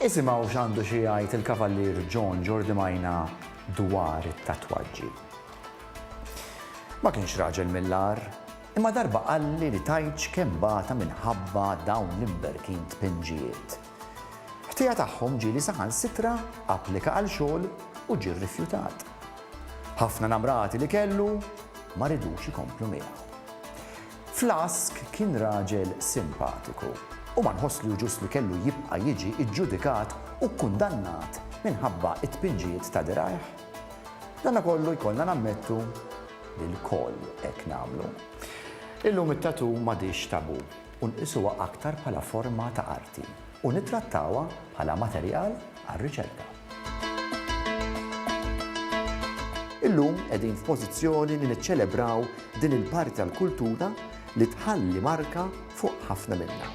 Isimgħu x'għandu xi jgħid il-Kavallier John Jordi Majna dwar it-tatwaġġi. Ma kienx raġel mill-agħar, imma darba qalli li tajtx kemm bata minħabba dawn l-imberkin tpinġijiet. Ħtija tagħhom ġieli saħansitra applika għal xogħol u ġie rrifjutat. Ħafna namrati li kellu ma ridux ikomplu miegħu. Flask kien raġel simpatiku u ma nħoss li hu ġust li kellu jibqa' jiġi ġġudikat u kkundannat minħabba t-tpinġijiet ta' dirgħajh. Madankollu jkollna nammettu li lkoll hekk nagħmlu. Illum it-tattoo m'għadhiex tabù u nqisuha aktar bħala forma ta' arti. u nittrattawha bħala materjal għar-riċerka. Illum qegħdin f'pożizzjoni li niċċelebraw din il-parti tal-kultura li tħalli marka fuq ħafna minna.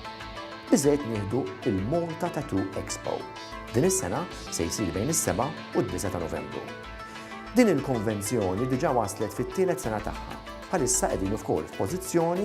Biżżejjed nieħdu il-Malta Tattoo Expo. Din is-sena se jsir bejn is-7 u d-9 ta' Novembru. Din il-konvenzjoni diġà waslet fit-tielet sena tagħha. Bħalissa qegħdin ukoll f'pożizzjoni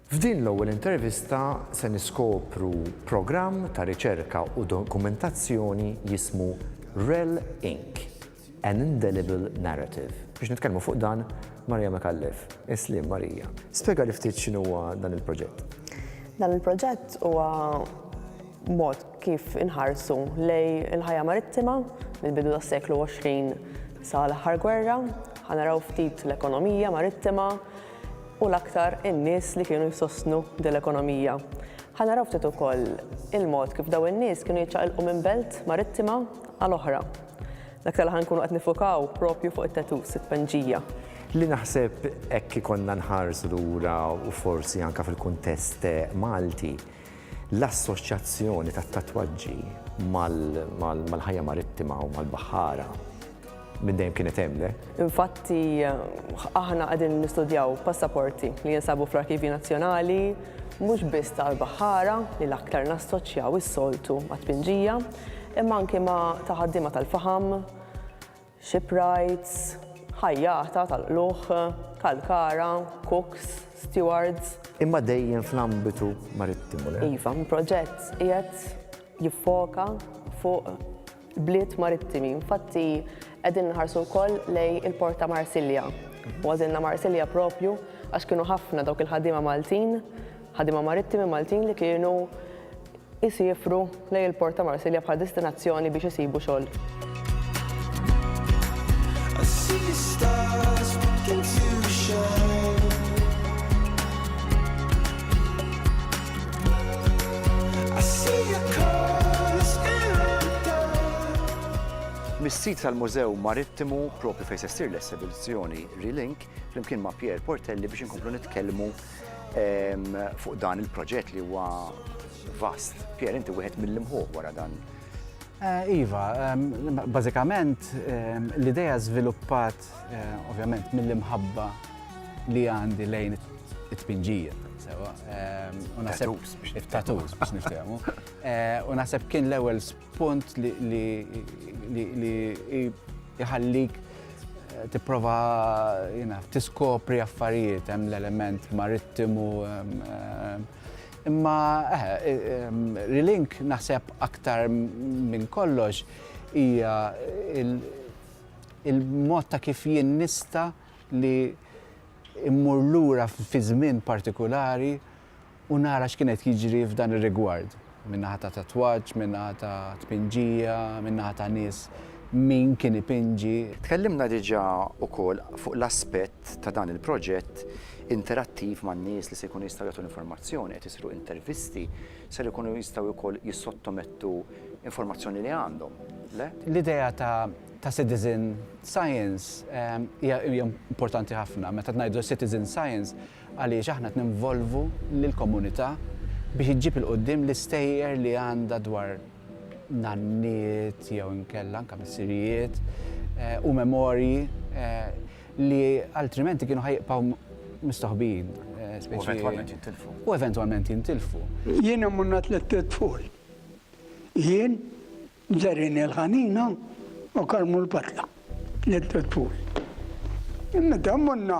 F'din l-ewwel intervista se niskopru programm ta' riċerka u dokumentazzjoni jismu Rel Ink, An Indelible Narrative. Biex nitkellmu fuq dan, Maria Micallef. Isliem, Maria. Spjegali ftit x'inhuwa dan il-proġett. Dan il-proġett huwa mod kif inħarsu lejn il-ħajja marittima mill-bidu tas-seklu 20 sa l-aħħar gwerra. Ħa naraw ftit l-ekonomija marittima, u l-aktar in-nies li kienu jsostnu din l-ekonomija. Ħa naraw ftit ukoll il-mod kif dawn in-nies kienu jiċċaqilqu minn belt marittima għal oħra. L-aktar li ħa nkunu qed nifukaw proprju fuq it-tattoos, it-tpenġija. Li naħseb hekk ikollna nħarsu lura u forsi anke fil-kuntest Malti, L-assoċjazzjoni tat-tatwaġġi mal-ħajja marittima u mal-baħħara minn dejjem kienet hemm, le? Infatti, aħna qegħdin nistudjaw passaporti li jinsabu fl-Arkivji Nazzjonali mhux biss tal-baħħara li l-aktar nassoċjaw is-soltu mat-tpinġija, imma anki ma' ta' ħaddiema tal-faħam, shipwrights, ħajjata tal-qlugħ, kalkara, cooks, stewards. Imma dejjem fl-ambitu marittimu, le? Iva, l-proġett qiegħed jiffoka fuq bliet marittimi. Infatti, qegħdin nħarsu wkoll lej il-port ta' Marsilja. U għażilna Marsilja propju għax kienu ħafna dawk il-ħaddiema Maltin Ħaddiema marittimi Maltin li kienu jsiefru lejn il-port ta' Marsilja bħala destinazzjoni biex isibu xogħol. Mis-sit tal-Mużew Marittimu propju fejn se ssir l-esibizzjoni Relink flimkien ma' Pierre Portelli biex inkomplu nitkellmu ehm, fuq dan il-proġett li huwa vast. Pier, inti wieħed mill-imħuħ wara dan. Eh, iva, ehm, bażikament ehm, l-ideja żviluppat eh, ovvjament mill-imħabba li għandi lejn it-tpinġija. Sewa, u naħseb it-tatus biex niftehmu. Eh, u naħseb kien l-ewwel Punt li jħallik eh, tipprova tiskopri affarijiet hemm l-element marittimu imma eh, eh, relink naħseb aktar minn kollox hija il-mod ta' kif jien nista li immur lura fi żmien partikolari u nara x'kien qed jiġri f'dan ir-rigward, min-naħa ta' tatwaġġ, min-naħa ta' tpinġija, min-naħa ta' nies, min kien ipinġi. Tkellimna diġà wkoll fuq l-aspett ta' dan il-proġett interattiv man-nies li se jkunu jistgħu jagħtu l-informazzjoni, qed isiru intervisti, ser ikunu jistgħu wkoll jissottomettu informazzjoni li għandhom, le? L-idea ta' citizen science hija importanti ħafna. Meta ngħidu citizen science, għaliex aħna qed ninvolvu lill-komunità biex iġġib 'il quddiem l-istejjer li għandha dwar nanniet jew inkella anke missirijiet u memorji li altrimenti kienu ħa jibqgħu mistoħbijin. U eventwalment jintilfu. U eventwalment jintilfu. Jiena monna tlitt tfal. Jien Ġerrin il-ħanina u karmu l-patla lil Tutful. Meta morna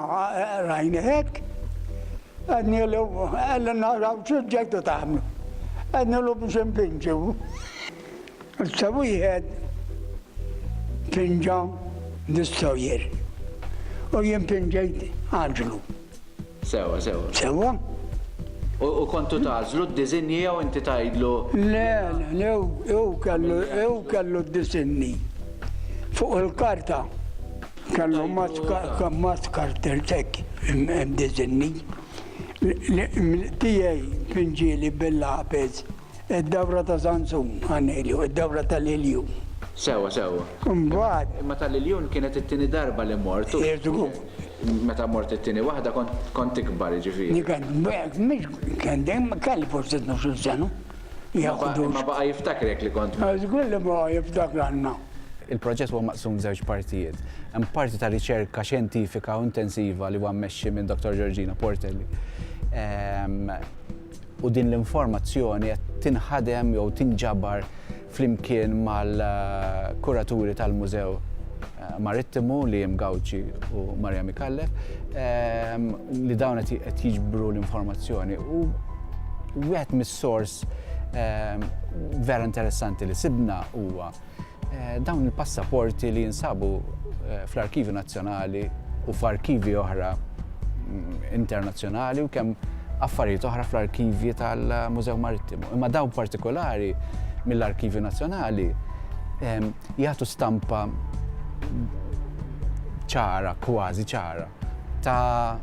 rajna hekk, għednielu ejja naraw xi ġejtu tagħmlu. Għednielu biex inpinġu. Issa wieħed pinġa destroyer u jien pinġejt għaġlu. Sewwa, sewwa. Sewwa? U, u kontu tagħżlu d-disinji jew inti tgħidlu? Le, le, hu, hu kellu, hu kellu d-disinji. Fuq il-karta kellu mat karter tek disinji. Tiegħi pinġieli bil-lapes. Id-dawra ta' Żanzun, għan Elju, id-dawra tal-Iljun. Sewwa, sewwa. Imbagħad. Imma tal-Iljun kienet it-tieni darba li mort u. Żgur. Meta mort it-tieni waħda kont tikbar, jiġifieri. Jien kont, b'hekk, mhix, kien dejjem, kelli forsi tnax-il sena. Imma baqa' jiftakrek li kont mort. Żgur li baqa' jiftakranna. Il-proġett huwa maqsum f'żewġ partijiet. Hemm parti ta' riċerka xjentifika u intensiva li huwa mmexxi minn Dottor Georgina Portelli. u din l-informazzjoni qed tinħadem jew tinġabar flimkien mal-kuraturi tal-Mużew Marittimu Liam Gauci u Maria Micallef ehm, li dawn qed jiġbru l-informazzjoni u wieħed mis-sors ehm, vera interessanti li sibna huwa Dawn il-passaporti li jinsabu fl-Arkivju Nazzjonali u f'arkivi oħra mm, internazzjonali u kemm affarijiet oħra fl-arkivji tal-Mużew Marittimu. Imma dawn partikolari mill-Arkivju Nazzjonali jagħtu stampa ċara, kważi ċara, ta'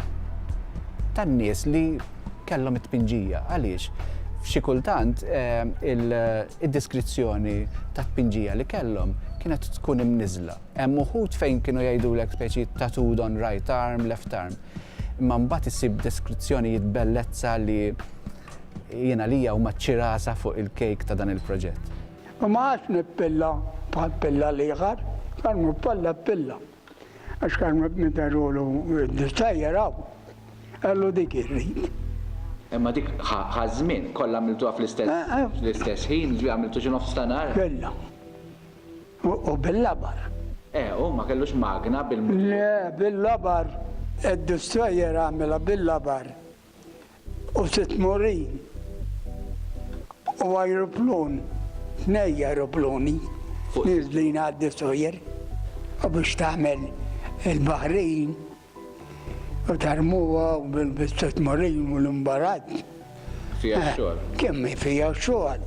tan-nies li kellhom it-tpinġija. Għaliex? F'xi kultant id-deskrizzjoni tat-tpinġija li kellhom kienet tkun imniżżla. Hemm uħud fejn kienu jgħidulek speċi tattooed on right arm, left arm. Imma mbagħad issib deskrizzjonijiet bellezza li jien għalija huma ċ-ċirasa fuq il-kejk ta' dan il-proġett. U ma għadx nippilla bħal pilla l-ieħor, bħal ma palla pilla. Għax kan meta rulu tajjar hawn, qallu dik irrid. Imma dik ħa żmien, kollha għamiltuha fl-istess ħin, ġifieri għamiltu xi nofs ta' nhar? Kellna. U bil-labar. Eh, u ma kellux magna bil-motur? Le, bil-labar. Id-destroyer għamilha bil-labar. u sitt murin u ajruplun, tnej ajrupluni nieżlin għad-Destroyer u biex tagħmel il-baħrin u tarmuha bis-sitt murin u l-imbarazz. Fiha x-xogħol. Kemm hi fiha x-xogħol.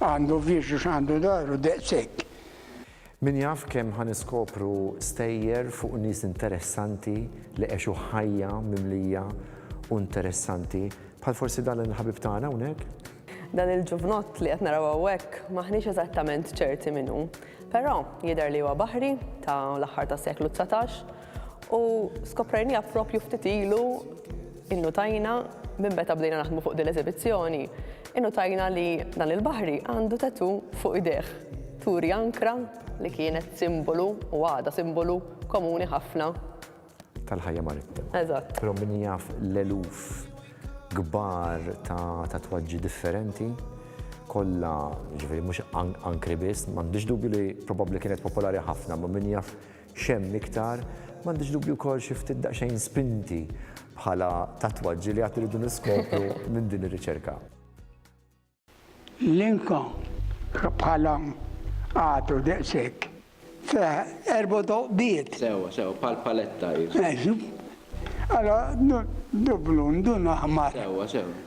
Għandu uffiċċju x'għandu daru daqshekk. Min jaf kemm ħa niskopru stejjer fuq nies interessanti li għexu ħajja mimlija u interessanti, bħal forsi dan il-ħabib tagħna hawnhekk? Dan il-ġuvnott li qed naraw hawnhekk m'aħniex eżattament ċerti min hu. Però, jidher li huwa baħri, ta' l-aħħar tas-seklu dsatax, U skoprejniha propju ftit ilu innutajna minn meta bdejna naħdmu fuq din l-eżibizzjoni, innutajna li dan il-baħri għandu tatu fuq idejh. Turi ankra li kienet simbolu u għadha simbolu komuni ħafna. Tal-ħajja marittima. Eżatt. Però min jaf l-eluf kbar ta' tatwaġġi differenti kollha ġifieri mhux ankri biss, m'għandix dubju li probabbli kienet popolari ħafna, ma' min jaf X'hemm iktar? M'għandix dubju wkoll xi ftit daqsxejn spinti bħala tatwaġġi li għad irridu niskopru minn din ir-riċerka. L-inka bħala għadu daqshekk fih erba' toqbiet. Sewwa, sewwa, bħal paletta hi. Eżatt. Allura dublu, ndun aħmar. Sewwa, sewwa.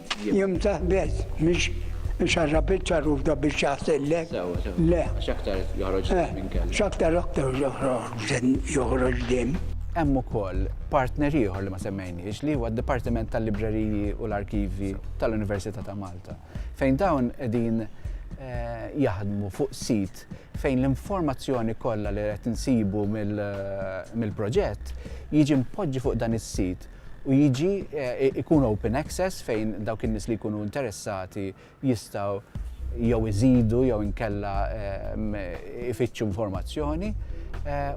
Jimtaħ biss, mhix xarra biċċa ruda biex jaħsillek. Le. X'aktar joħroġ demm minn kellu. X'aktar aktar joħroġ demm. Hemm ukoll partner ieħor li ma semmejniex li huwa d-Dipartiment tal-Libreriji u l-Arkivji tal-Università ta' Malta, fejn dawn qegħdin jaħdmu fuq sit fejn l-informazzjoni kollha li qed insibu mill-proġett jiġi mpoġġi fuq dan is-sit u jiġi jkun open access fejn dawk in-nies li jkunu interessati jistgħu jew iżidu jew inkella ifittxu informazzjoni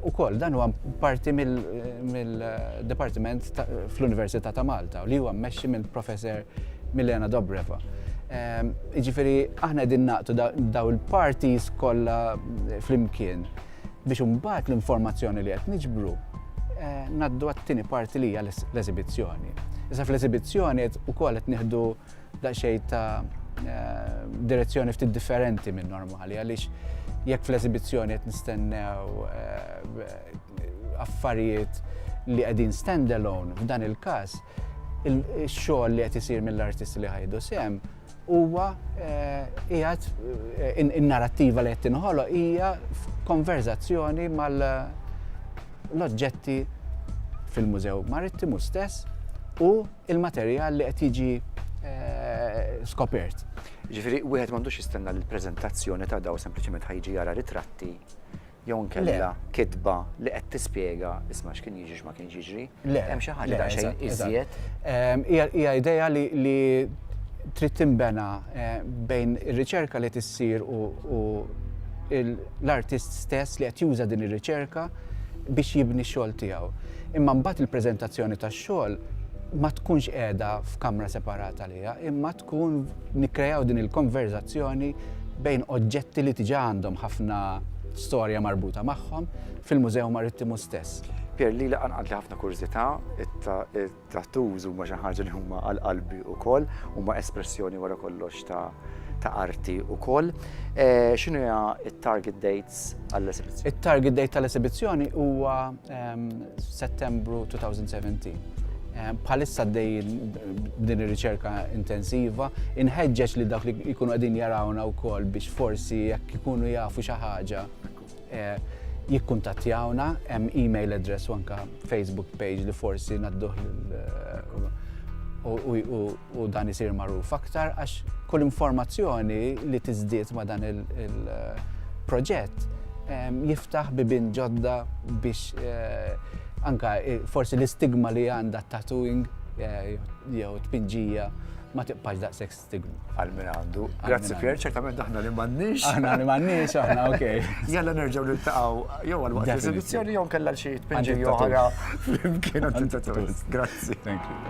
ukoll. Dan huwa parti mill-Dipartiment fl-Università ta' Malta li huwa mmexxi minn Professor Milena Dobreva. Jiġifieri aħna qegħdin naqdu dawn il-parties kollha flimkien. biex imbagħad l-informazzjoni li qed niġbru eh, naddu għat-tieni parti li hija l-eżibizzjoni. Issa fl-eżibizzjoni ukoll qed nieħdu daqsxejn ta' eh, direzzjoni ftit differenti minn normali għaliex jekk fl-eżibizzjoni qed nistennew eh, affarijiet li qegħdin standalone f'dan il-każ il-xogħol li qed isir mill-artisti li ħajdu sem Huwa qiegħed in-narrattiva li qed tinħoloq hija konverżazzjoni mal-oġġetti fil-Mużew Marittimu stess u il-materjal li qed jiġi skopert. Ġifieri wieħed m'għandux jistenna li l-preżentazzjoni ta' daw sempliċement ħajġi jara ritratti jew inkella kitba li qed tispjega isma' x'kien jiġri x'ma kienx jiġri. Le. Hemm xi ħaġa daqsxejn iżjed. Hija idea li trid tinbena bejn ir-riċerka li tissir u l-artist stess li qed juża din ir-riċerka biex jibni x-xogħol tiegħu. Imma mbagħad il-preżentazzjoni tax-xogħol ma tkunx qiegħda f'kamra separata għaliha imma tkun nikkrejaw din il-konverżazzjoni bejn oġġetti li diġà għandhom ħafna storja marbuta magħhom fil-Mużew Marittimu stess. Pier, lili qanqatli ħafna kurżità, it-tattoos huma xi ħaġa li huma għal qalbi wkoll, huma espressjoni wara kollox ta' ta' arti wkoll. X'inhu hija t-target dates għall-esibizzjoni? It-target date tal-esibizzjoni huwa Settembru 2017. Bħalissa dej din ir-riċerka intensiva, inħeġġeġ li dawk li jkunu qegħdin jarawna wkoll biex forsi jekk ikunu jafu xi ħaġa eh, jikkuntattjawna, hemm email address u anka Facebook page li forsi nadduh eh, u u dan isir magħruf aktar għax kull informazzjoni li tiżdied ma' dan il-proġett ehm, jiftaħ bibin ġodda biex eh, anka eh, forsi l-istigma li għandha tattooing eh, jew tpinġija ma tibqax daqshekk stigma. Għal min għandu. Grazzi Pier, ċertament aħna li m'għandniex. Aħna li m'għandniex, aħna ok. Jalla nerġgħu niltaqgħu jew għal waqt l-esibizzjoni jew kellha xi tpinġi oħra flimkien għand Grazzi. Thank you.